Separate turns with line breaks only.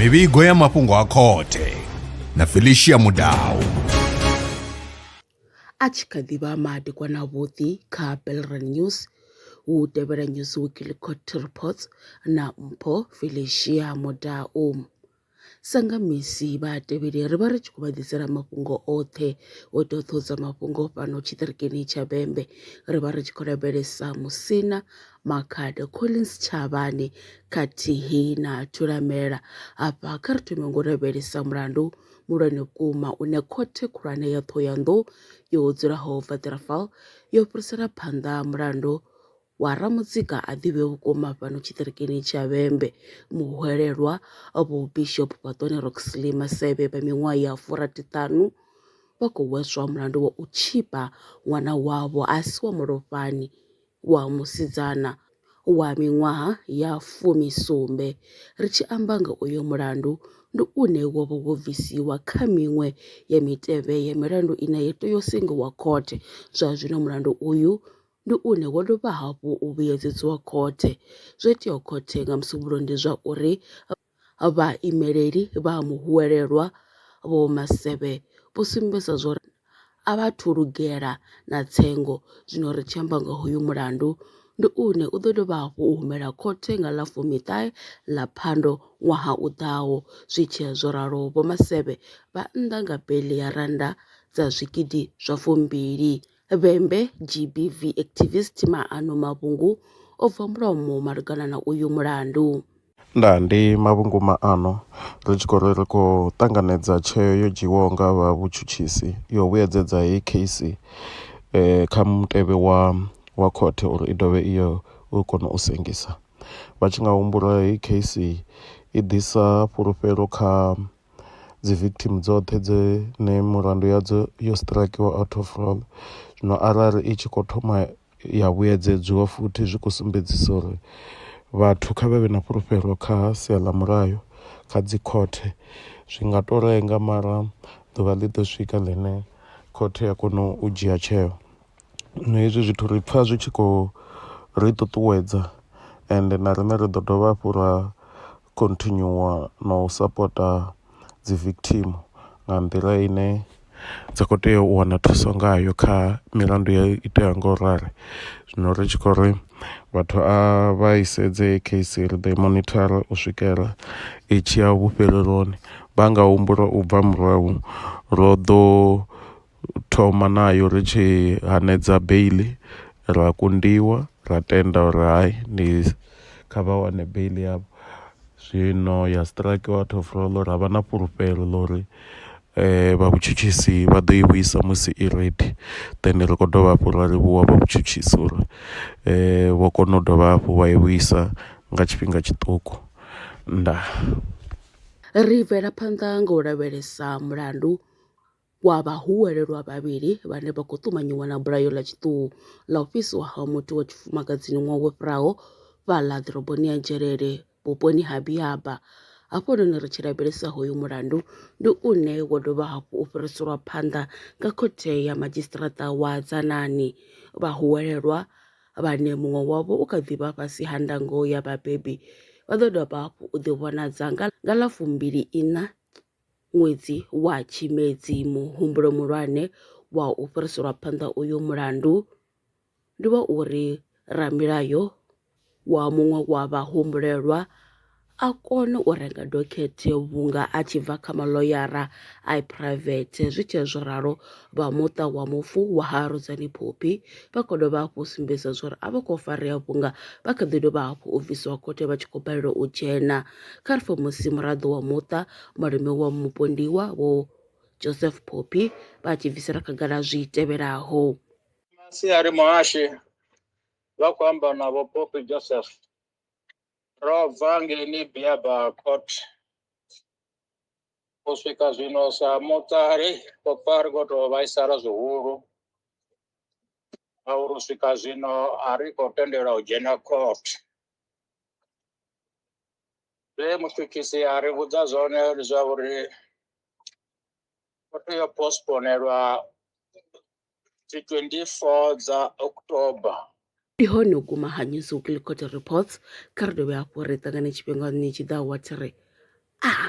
mivhigo ya mafhungo a khothe na felicia mudau a tshi kha ḓi vha madekwana avhuḓi kha belran news hu tevhela news weekly court reports na mpho felicia mudau Sa nga misi vhatevheli ri vha ri tshi khou vha ḓisela mafhungo oṱhe o ita u ṱohudza mafhungo fhano tshiṱirikini tsha bembe ri vha ri tshi khou lavhelesa musina makhado collins tshavhani khathihi na thulamela hafha kha ri thome ngo lavhelesa mulandu muhulwane vhukuma une khothe khulwane ya ṱhohoyanḓou yo dzulaho vatirafal yo fhirisela phanḓa mulandu wa Ramutsika a ḓivhe vhukuma fhano tshiṱirikini tsha Vhembe, muhwelelwa Vho Bishop Fhaṱoni Roxley Masevhe vha miṅwaha ya furathithanu vha khou hweswa mulandu wa u tshipa ṅwana wavho a si wa mulofhani wa musidzana wa miṅwaha ya fumi sumbe. Ri tshi amba nga uyo mulandu, ndi une wo vha wo bvisiwa kha miṅwe ya mitevhe ya milandu ine ya tea u sengiwa khothe. Zwa zwino mulandu uyu ndi une wo dovha hafhu u vhuyedziwa khothe. Zwo iteaho khothe nga musumbuluwo ndi zwa uri vhaimeleli vha muhwelelwa vho masevhe vho sumbedzisa zwa uri a vha thu lugela na tsengo zwino ri tshi amba nga hoyu mulandu ndi une u ḓo dovha hafhu u humela khothe nga ḽa fumiṱahe ḽa phando ṅwaha u ḓaho zwi tshiya zwo ralo vho masevhe vha nnḓa nga beli ya rannda dza zwigidi zwa fumbili Vhembe, GBV activist Maano Mavhungu o bva mulomo malugana na uyu mulandu. Ndaa, ndi Mavhungu Maano. Ri tshi khou ri ri khou ṱanganedza tsheo yo dzhiiwaho nga vha vhutshutshisi ya u vhuyedzedza heyi kheisi kha mutevhe wa wa khothe uri i dovhe i yo u kona u sengisa. Vha tshi nga humbula heyi kheisi i ḓisa fhulufhelo kha. dzi victim dzoṱhe dze ne mulandu yadzo yo strakiwa out of roll zwino arali i tshi khou thoma ya vhuyedzedziwa futhi zwi khou sumbedzisa uri vhathu kha vhe vhe na fhulufhelo kha sia ḽa mulayo kha dzi khothe zwi nga to lenga mara ḓuvha ḽi ḓo swika ḽine khothe ya kona u dzhia tsheo zwino hezwi zwithu ri pfha zwi tshi khou ri ṱuṱuwedza ende na riṋe ri ḓo dovha hafhu ra khontinyuwa na u sapota dzi victim nga nḓila ine dza kho tea u wana thuso ngayo kha milandu yo iteaho nga u rali. Zwino ri tshi khou ri vhathu a vha i sedze heyi case ri ḓo i monitor u swikela i tshi ya vhufheleloni vha nga humbula u bva murahu ro ḓo. thoma nayo ri tshi hanedza beiḽi ra kundiwa ra tenda uri hai ndi kha vha wane beiḽi yavho, zwino ya strike out of roll ra vha na fhulufhelo ḽa uri vha vhutshutshisi vha ḓo i vhuisa musi i ready then ri kho dovha hafhu ra livhuwa vha vhutshutshisi uri vho kona u dovha hafhu vha i vhuisa nga tshifhinga tshiṱuku. Ndaa. Ri bvela phanḓa nga u lavhelesa mulandu. wa vha hu welelwa vhavhili vhane vha khou ṱumanyiwa na bulayo ḽa tshiṱuhu ḽa u fhisiwa ha muthu wa tshifumakadzini ṅwaha wo fhiraho fhaḽa ḓoroboni ya Dzhelele vhuponi ha Biaba. Hafhanoni ri tshi lavhelesa hoyu mulandu ndi une wo dovha hafhu u fhiriselwa phanḓa nga khothe ya madzhisiṱiraṱa wa Dzanani. Vhahuwelelwa vhane muṅwe wavho u kha ḓi vha fhasi ha ndango ya vhabebi vha ḓo dovha hafhu u ḓivhonadza nga ḽa fumbili iṋa ṅwedzi wa Tshimedzi muhumbulo muhulwane wa u fhiriselwa phanḓa uyu mulandu ndi wa uri ramilayo wa muṅwe wa vhahumbulelwa a kone u renga dokhethe vhunga a tshi bva kha maḽoyara a phuraivethe zwi tshee zwo ralo vha muṱa wa mufu wa ha Rudzani Phophi vha khou dovha hafhu u sumbedza zwa uri a vha khou farea vhunga vha kha ḓi dovha hafhu u bvisiwa khothe vha tshi khou balelwa u dzhena Kha ri pfe musi muraḓo wa muṱa malume wa mupondiwa vho Joseph Phophi vha tshi bvisela khagala zwi tevhelaho. Masiari Muhashi vha khou amba na vho Phophi Joseph ro bva ngeni Biaba Court u swika zwino sa muṱa ri khou pfa ri khou tou vhaisala zwihulu ngauri u swika zwino a ri khou tendelwa u dzhena court zwe mutshutshisi a ri vhudza zwone ndi zwa uri o tea u postponelwa dzi 24 dza october ndi hone u guma ha news weekly court reports kha ri dovhe hafhu ri ṱangane tshifhingani tshi ḓaho wa thiri a ah.